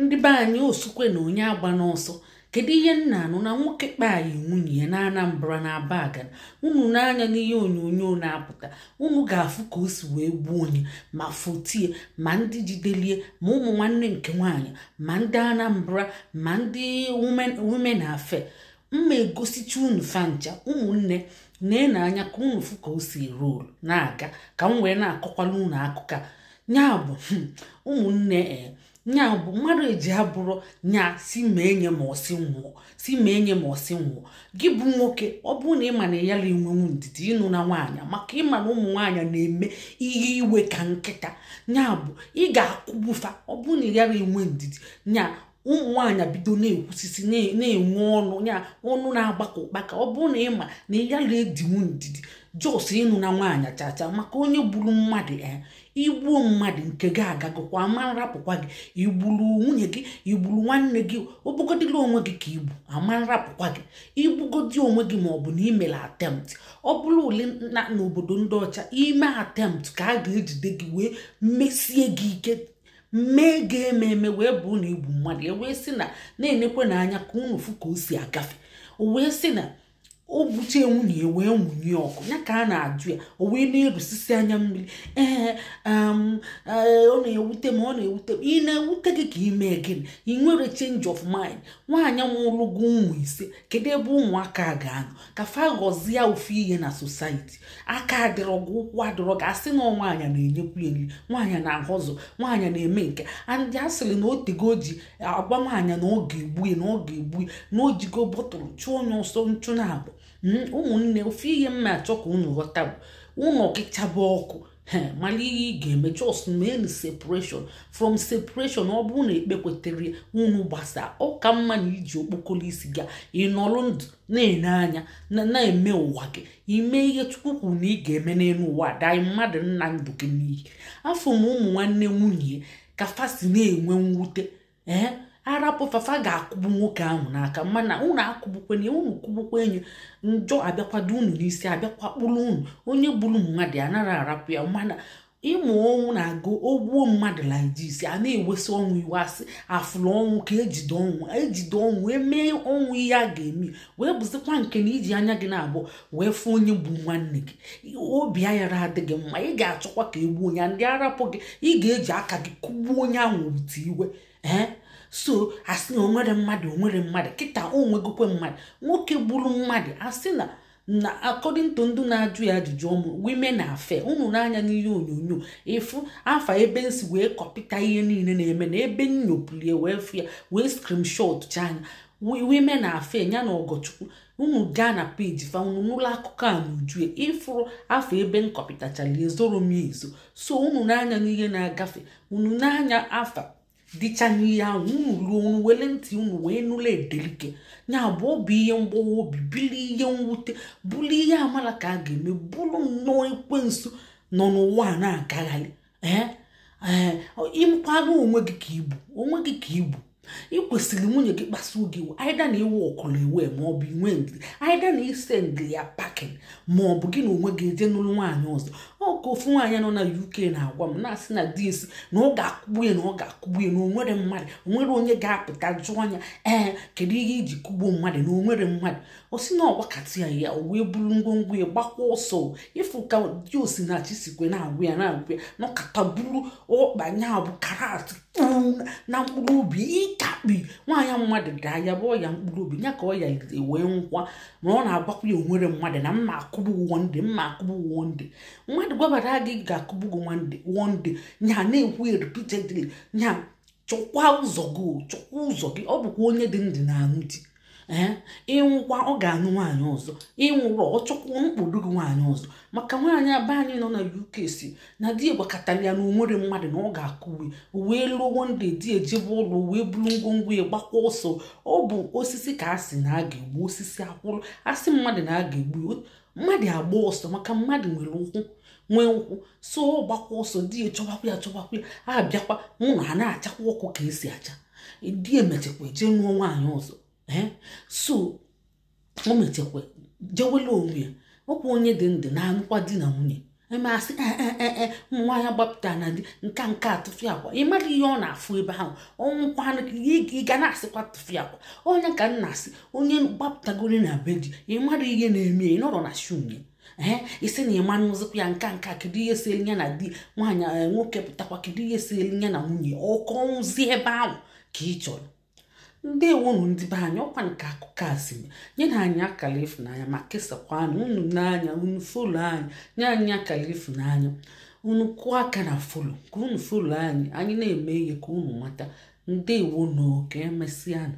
ndị be anyị osukwe na onye agbana ọsọ kedu ihe m na-anụ na nwoke kpai nwunye ya na anambra na abagana unu nee anya n'ihe onyonyo na-apụta unu ga-afụ ka o si wee gbuo nye ma fotie ma ndị jidelie ma ụmụ nwanne nke nwaanyị ma ndị anambra ma ndị women affair m ma-egosicha unu fa ncha ụmụnne na-ene anya ka unu fụ ka o si rolu na-aga ka m wee na-akọkwala unu akụkọ nya bụ hmm, ụmụnne e, nya bụ mmadụ eji abụrụ nya si ma enye ma ọsị nwụọ si ma enye ma ọsị nwụọ gị bụ nwoke ọ bụrụ na ịma na ị yala enwenwu ndidi ịnụna nwaanyị maka ịma na ụmụ nwaanyị na-eme ihe iwe ka nkịta nya bụ ị ga-akụgbu fa ọ bụrụ na ị yala enwe ndidi nya ụmụ nwaanyị bido na-ekwusisi na-enwe ọnụ ya ọnụ na-agba ka ụkpaka ọ bụrụ na ịma na ị yala edinwu ndidi just ịnụna nwaanyị chacha maka onye gburu mmadụ ya eh, igbuo mmadụ nke gị agagokwa ama nrapụkwa gị igburu nwunye gị igburu nwanne gị ọ bụgodila onwe gị ka igbu ama nrapụkwa gị igbugodi onwe gị ma ọ bụ na imere attempt ọ bụrụ ule na n'obodo ndị ọcha ime attempt ka a ga-ejide gị wee mesie gị ike mee gị eme eme wee bụ na igbu mmadụ e wee sị na na-enekwenụ anya ka unu fụ ka o si agafe o wee sị na o gbuchaa nwunye ya wee nwunye ọkụ nya ka a na-ajụ ya o wee na-erusisi anya mmiri ee um, ee, ọ na-ewute m ọ na-ewute m ị na-ewute gị ka ime gịnị ị nwere change of mind nwaanyị mụrụ gị ụmụ ise kedu ebe ụmụaka a ga-anọ ka fa ghọzie ofu ihe na society aka adịrọ gị ụkwụ adịrọ gị asị na nwaanyị na-enyekwu e nri nwaanyị na-ahustle nwaanyị na-eme nke andị a sịrị na otego o ji agwa nwaanyị na ọ ga-egbu e na ọ ga-egbu e na o jigo bottle chụọ nye ọsọ nchụ naabọ ụmụnne ofu ihe m ma-achọ ka unu ghọta bụ ụnọ gị chaba ọkụ mara ihe ị ga-eme just mee separation from separation ọ bụrụ na ekpekwetarọ unu gbasa ọ ka mma na iji okpokoro isi gị nọrọ ndụ na-ene anya na-eme ụwa gị ime ihe chukwu kwuru na ị ga-eme n'elu ụwa than mmadụ ịna ndụ gị n'iyi afụ m ụmụ nwanne nwunye ka fa si na-enwe mwute ee arapụ fa fa ga-akụgbu nwoke ahụ n'aka mana unu akụgbukwe nye unu kụgbukwa nye njọ abịakwa do unu n'isi abịakwa kpụrụ unu onye gburu mmadụ ya anaghị arapụ ya mana ị ma ọnwụ na-aga o gbuo mmadụ like this a na-ewesị ọnwụ iwe asị afụrụ ọnwụ ka ejide ọnwụ ejide ọnwụ emee ọnwụ ihe a ga-eme wee bụzikwa nke na iji anya gị naabụ wee fụ onye gburu nwanne gị obi ayara adị gị mma ị ga-achọkwa ka egbuo onye ndị arapụ gị ị ga-eji aka gị kụgbuo onye ahụ wute iwe ee so asị na onwere mmadụ onwere mmadụ kịta onwegokwe mmadụ nwoke gburu mmadụ asị na na according to ndị na-ajụ ya ajụjụ ọnụ women affair unu nee anya n'ihe onyonyo ịfụ afa ebe m si wee kọpịta ihe niile na-eme na ebe nnyopụlie wee fụ ya wee screenshot cha ya women affair ya na ọgọchukwu unu gaa na peji fa unu nụla akụkọ a n'uju e ịfụrụ afa ebe m kọpịtachara ezoro m ezo so unu nee anya n'ihe na-agafe unu n'anya afa dịcha n'ihe ahụ unu ruo unu wele ntị unu wee nụla edelike ya bụ ọ bụ ihe mgbawa obi bụrụ ihe mwute bụrụ ihe amala ka a ga-eme bụrụ nnọọ ekwensu nọ n'ụwa a na-agagharị ee ee ịmakwa na onwe gị ka igbu onwe gị ka igbu ị kwesịrị nwunye gị kpasuo gị iwe either na iwe ọkụrụ iwe ma ọ bụ inwe ndidi either na i sendili ya packing ma ọ bụ gị na onwe gị eje nụlụ nwaanyị ọzọ ọ ka ofu nwaanyị nọ na uk na-agwa m na-asị na di e sị na ọ ga-akụgbu ya na ọ ga-akụgbu ya na onwere mmadụ onwere onye ga-apụta jụọ nya ee kedu ihe iji kụgbuo mmadụ na onwere mmadụ ọ sị na ọ gwakata ya ọ wee buru ngwongwo ya gbakwa ọsọ ịfụ ka di osinachi sikwe na-agwa ya na-agwa ya nọkata buru ọkpa nya bụ karate kpuu na mkpụrụ obi ịkakpi nwaanyị mmadụ daa ya bụ ọya mkpụrụ obi ya ka ọ ya wee nwụkwa ma ọ na-agwakwa ya onwere mmadụ na mma akụgbu gị one day mma akụgbu gị one day mmadụ gwabara gị ga-akụgbu gị one day one day nya na-ekwu ya repeatedly nya chọkwa ụzọ gị chọkwa ụzọ gị ọ bụkwa onye dị ndụ na-anụ di ee ịnwụkwa ọ ga-anụ nwaanyị ọzọ ịnwụrọ ọ chọkwuo mkpụrụ gị nwaanyị ọzọ maka nwaanyị a be anyị nọ na uk sị na di e gwakatara ya na onwere mmadụ na ọ ga-akụgbu e o wee luo one day di e jebe ọlụ o wee buru ngwongwo ya gbakwa ọsọ ọ bụ osisi ka a sị na a ga-egbu osisi akwụrụ asị mmadụ na a ga-egbu ya. mmadụ agba ọsọ maka mmadụ nwere ụkwụ nwee ụkwụ so ọ gbakwa ọsọ di ya chọbakwa ya chọbakwa ya abịakwa mụ na ha na-achakwa ọkụ ka esi acha di e mechekwa eje nụọ nwaanyị ọzọ ee so o mechekwa jewela onwe ya ọkwa onye dị ndụ na-anụkwa di na nwunye emasị ee eh, eh, eh, nwa ya gbapụta na di nka nka tụfịakwa ị mara ihe ọ na-afụ ebe ahụ ọnwụkwanụ ị ga na-asịkwa tụfịakwa onye ka m na-asị onye gbapụtagoro na be di ị mara ihe na-eme ị nọrọ na-asị onye ee ị sị na ị ma-anụzikwa ya nka nka kedu ihe seelu ya na di nwaanyị nwoke pụtakwa kedu ihe seelu ya na nwunye ọ ka nwụzi ebe ahụ ka ị chọrọ ndewonu ndị be anyị ọkwa nke akụkọ a si nyenụ anyị akara ịfụnanya ma kesakwa nya unu nee anya unu follow anyị nye anyị akara ịfụnanya unu kụọ aka na follow ka unu follow anyị anyị na-eme ihe ka unu mata ndewonu ka emesịanụ